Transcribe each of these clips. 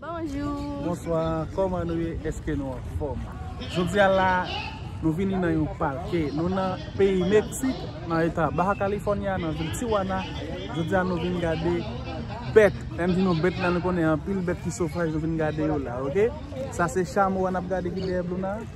Bonjou. Bonswa koman nou ye eske nou anfom jodi a la nou vini nan yon pake nou nan peyi meksik nan eta baha california nan vil tiwana jodi a nou vini gade bet lè nou di nou bet la nou konnen anpil bet ki sofaj nou vini gade yo la ok sa se chamo a nap gade ki dèyè blou nan.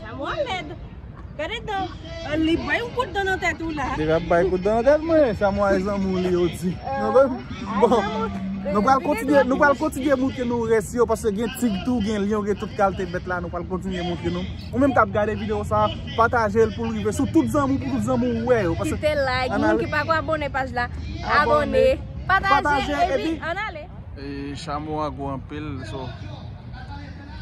Sa mwa lèd. Gade dan. An li bay yon kout dan nan tèt ou la. Li ap bay kout dan nan tèt mwen. Sa mwa e zanmou li yo di. Nan vè m? Bon. Nou pral kontinye, nou pral kontinye moutre nou rès yo. Paske gen tig tou, gen lyon, gen tout kalte bèt la. Nou pral kontinye moutre nou. Ou menm kap gade video sa, pataje l pou l rive sou tout zanmou, pou tout zanmou wè yo. Kite like, moun ki pa ko abone paj la, abone. Pataje, epi an ale. E chamo a gou anpil, so.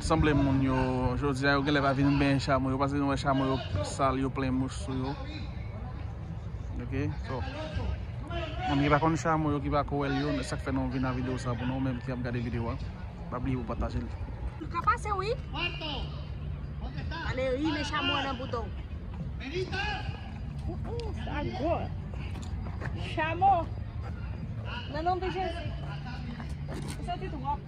Sanble moun yo jodi a yo genlè pa vin benyen chamo yo paske nou wè chamo yo sal yo plen mouch sou yo ok so moun ki pa konn chamo yo ki pa ko wèl yo se sak fè nou vin nan video sa pou nou menm ki ap gade video a pa bliye pou patajel. Ou ka pase wi. Ale ri men chamo an nan bouda w. Ooh sa gwo. Chamo. Nan non de Jezi. Ou soti twòp.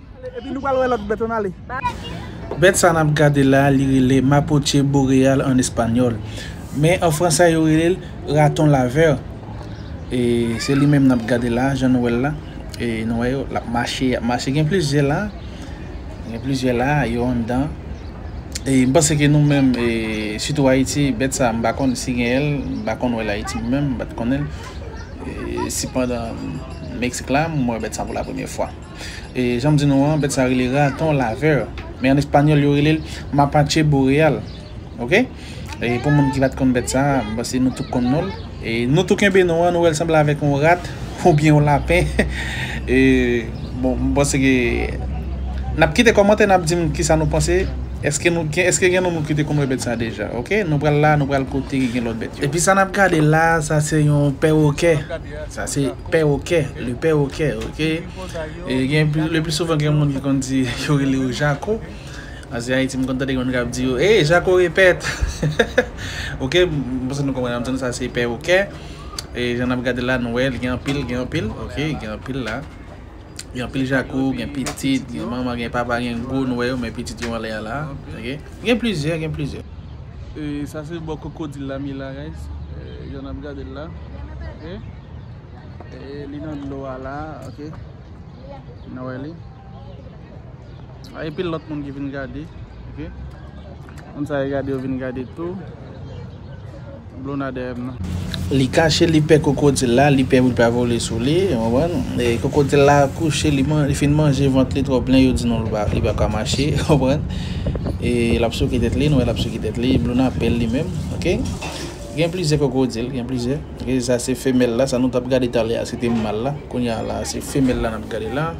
Bèt sa nap gade la li rele Mapoche boreal an espanyòl. Men an fransè yo rele l Raton laveur. E se li menm nap gade la jan nou wè l la. E nou wè yo lap mache, ap mache gen plizyè la. Gen plizyè la yo anndan. E m panse ke nou menm e sitou Ayiti bèt sa m pa konn si genyen l. M pa konn wè l Ayiti menm, m pat konnen l. E sepandan Meksik la m wè bèt sa pou la premye fwa. E janm di nou an, bèt sa rele raton laveur. Men an espanyòl yo rele l mapache boreal. Ok? E pou moun ki pat konn bèt sa, m panse nou tout konn non l. E nou tou kenbe non an, nou wè l sanble avèk yon rat ou byen yon lapen. E bon, m panse ke n ap kite kòmantè n ap di m ki sa nou panse. Eske nou gen eske gen nou moun ki te konn wè bèt sa deja? Ok? Nou pral la, nou pral kote gen lòt bèt yo. Epi sa n ap gade la a, sa se yon pèwokè. Sa se Pèwokè, le pèwokè, ok. E gen le pli souvan gen moun ki konn di yo rele yo jako. An si Ayiti m konn tande gen moun kap di yo, "Hey, jako repèt." Ok, m panse nou konprann, antouka sa se pèwokè. E jan nap gade la nou wè li gen anpil, gen anpil, ok, gen anpil la. Gen anpil jako, gen pitit, gen manman, gen papa, gen gwo nou wè yo men pitit yo anlè a la, ok. Gen plizyè, gen plizyè. E sa se bò kokodil la, Mila guys, jan nap gade l la, ok. Li nan dlo a la ok. Nou wè li. Ay pil lòt moun ki vin gade. Ok. Moun sa yo gade yo vin gade tou. Blona deyèm nan. Li kache li pè kokodil la, li pè pou li pa vole sou li, konprann? E kokodil la kouche li man, li fin manje vant li twò plen, yo di non li pa ka mache, konprann? E l ap souke tèt li, nou wè l ap souke tèt li, Blona pè l li menm, ok? Gen plizyè kokodil, gen plizyè. Ok sa se femèl la, sa nou tap gade talè a se te mal la, kounya la a se femèl la nap gade la.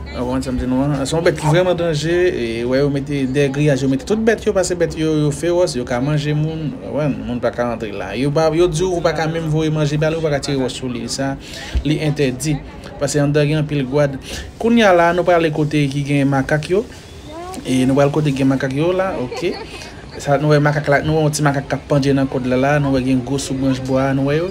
Ou konprann sa m di nou an? Se yon bèt ki vrèman danje, e ou wè yo mete dèyè griyaj yo mete tout bèt yo pase bèt yo yo fewòs, yo ka manje moun, ou konprann? Moun pa ka antre la. Yo pa yo di ou ou pa ka menm voye manje ba li, ou pa ka tire wòch sou li. Sa li entèdi. Pase anndan gen anpil gwad. Kounya la a nou prale kote ki gen makak yo. E nou pral kote gen makak yo la ok. Sa nou wè makak la, nou wè yon ti makak kap pandye nan kòd la la, nou wè gen gwo sou branch bwa a nou wè yo.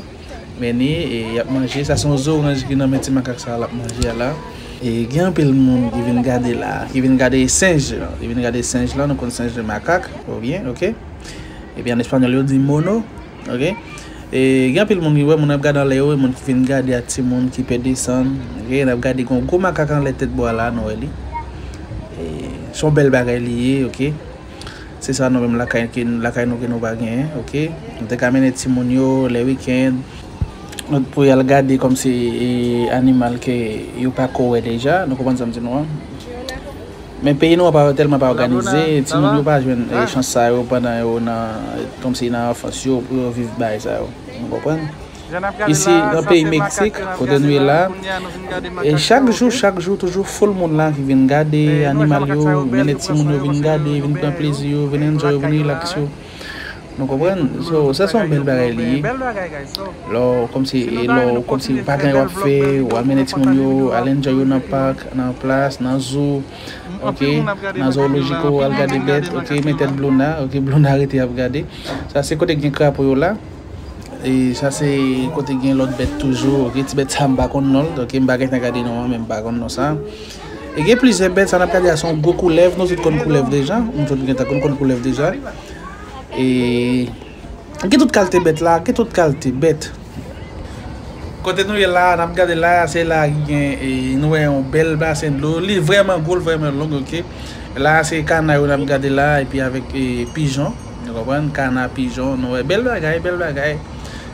Meni e yap manje, sa son zoranj ki nan men ti makak sa lap manje a la. E gen anpil moun ki vin gade la, ki vin gade senj lan, ki vin gade senj lan, nou konn senj de makak ou byen ok. Ebyen an español yo di mono. Ok e gen anpil moun ki wè moun ap gad anlè yo e moun ki fin gade ak ti moun ki pè desann ok nap gade gon gwo makak anlè tèt bwa la nou wè li e son bèl bagay li ye ok se sa nou menm lakay ke lakay nou ke nou pa gen ok nou te ka mennen ti moun yo lè weekend nou pou yal gade kòm se e animal ke yo pako wè deja nou konprann sam di nou an. Men peyi nou an tèlman pa òganize, timoun yo pa jwenn chans sa yo pandan yo nan kòmsi nan anfans yo pou yo viv bagay sa yo. Nou konprann? Isi nan peyi Meksik kote nou ye la e chak jou chak jou toujou foul moun la ki vin gade animal yo, mennen timoun yo vin gade, vin pran plezi yo, vin enjoy yo, vin relax yo. Nou konprann? So, sa son bèl bagay li ye. Lò, kòm si, lò, kòm si, pa gen wap fè, wap mennen ti moun yo, al enjoy yo nan pak, nan plas, nan zoo, ok, nan zoologico, al gade bèt, ok, men tèt Blouna, ok, Blouna rete ap gade. Sa se kote gen krapo yo la. E sa se kote gen lòt bèt toujou, ok, ti bèt sa m pa konn non l, ok, m pa gentan gade non an, men m pa konn non sa. Gen plizyè bèt sa nap gade a son gwo koulèv nou tout konn koulèv deja nou tout gentan konn konn koulèv deja e gen tout kalte bèt la gen tout kalte bèt kote nou ye la nap gade la se la ki gen e nou wè yon bèl basen dlo li vrèman gwo li vrèman long ok la se kana yo nap gade la epi avèk e pijon nou konprann kana pijon nou wè bèl bagay bèl bagay.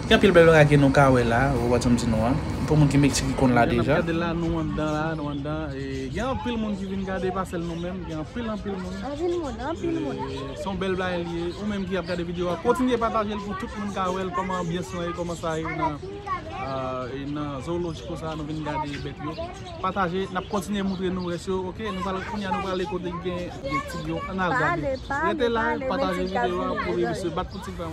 Gen anpil bèl bagay ke nou ka wè la, ou konprann sa m di nou an. Pou moun ki Mexique ki konn la deja. Jan nap gade la nou anndan la, nou anndan e gen anpil moun ki vin gade pa sèl nou menm, gen anpil anpil moun. Anpil moun, anpil moun. Se yon bèl bagay li ye. Ou menm ki ap gade video a, kontinye patajel pou tout moun ka wèl kòman anbyans lan ye, kòman sa ye nan e nan zoologico sa nou vin gade bèt yo. Pataje, nap kontinye moutre nou rès yo ok. Nou pral kounya nou prale kote gen gen tig yo, ann al gade. Rete la, pataje video a pou li misye bat pou tig la.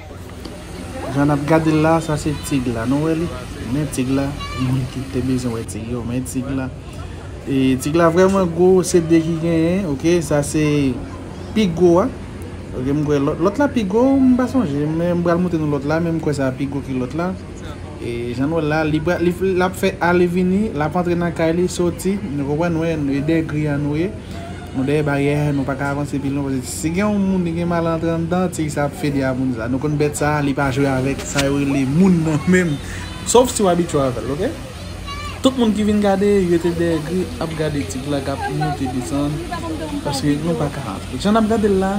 Jan nap gadel la sa se tig la nou wè li men tig la moun ki te bezwen wè tig yo men tig la e tig la vrèman gwo se 2 ki genyen ok sa se pi gwo a ok m kwè lòt la pi gwo m pa sonje men m pral montre nou lòt la men m kwè sa pi gwo ki lòt la e jan nou wè la li pral lap fè ale vini lap antre nan kay li soti nou konprann nou wè 2 gri a nou ye. Nou dèyè baryè nou paka avanse pi lwen paske si gen yon moun li gen mal antre anndan tigre sa ap fede a moun sa nou konn bèt sa li pa jwe avèk sa yo rele moun nan menm sof si w abitye avèl ok tout moun ki vin gade yo te dèyè gri ap gade tigre la kap moute desann paske nou paka antre jan nap gadel la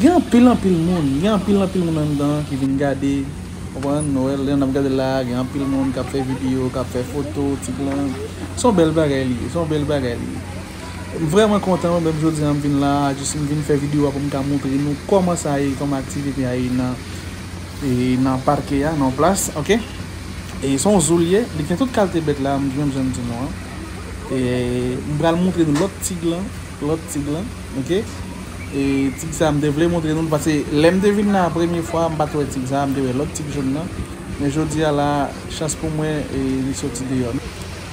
gen anpil anpil moun gen anpil anpil moun anndan ki vin gade konprann nou wèl jan nap gadel la gen anpil moun kap fè video kap fè foto tigre lan son bèl bagay li ye son bèl bagay li ye. M vrèman kontan mwen menm jodi an m vin la a jis m vin fè video a pou m ka montre nou kòman sa ye kòman aktivite a ye nan e nan parke a nan plas ok e se yon zoo l ye li gen tout kalte bèt la menm jan m di nou an e m pral montre nou lòt tig lan lòt tig lan ok e tig sa m te vle montre nou l pase lè m te vin la a premye fwa m pa t wè tig sa m te wè lòt tig jòn nan men jodi a la a chans pou mwen e li soti deyò.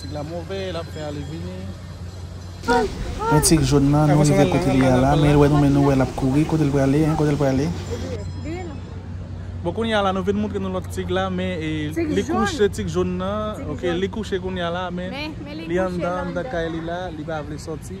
Tig la move, lap fè ale vini. Men tig jaune nan, nou rive kote li a la, men el wè nou men nou wè lap kouri, kotel prale hein, kotel prale? Bon kounya la nou vin moutre nou lòt tig la men li kouche tig jaune nan ok li kouche kounya la men li anndan anndan kay li la li pa vle sòti.